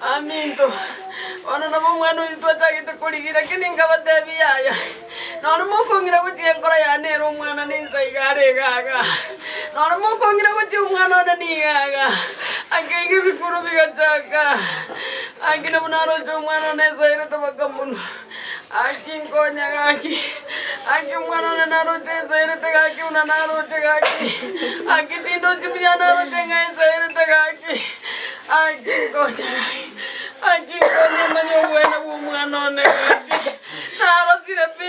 Aminto, bono nabo omwana oito twachagete korigia, lakini nkabatebia, Yaya, nonye mokong'ira gochia enkoro yane ere omwana ninsa iga are igaga, nonye mokong'ira gochia omwana one nigo iga. Akeiga ebikuru bigachaaka, agakina buna aroche omwana one esaerete bakamonwa. Gaki nkonya gaki, gaki omwana one naroche ensaerete gaki buna naroche gaki, gaki tindochi buya naroche ng'a ensaerete gaki, gaki nkonya gaki, gaki nkonya manye obwene bw'omwana one gaki, narosire pi.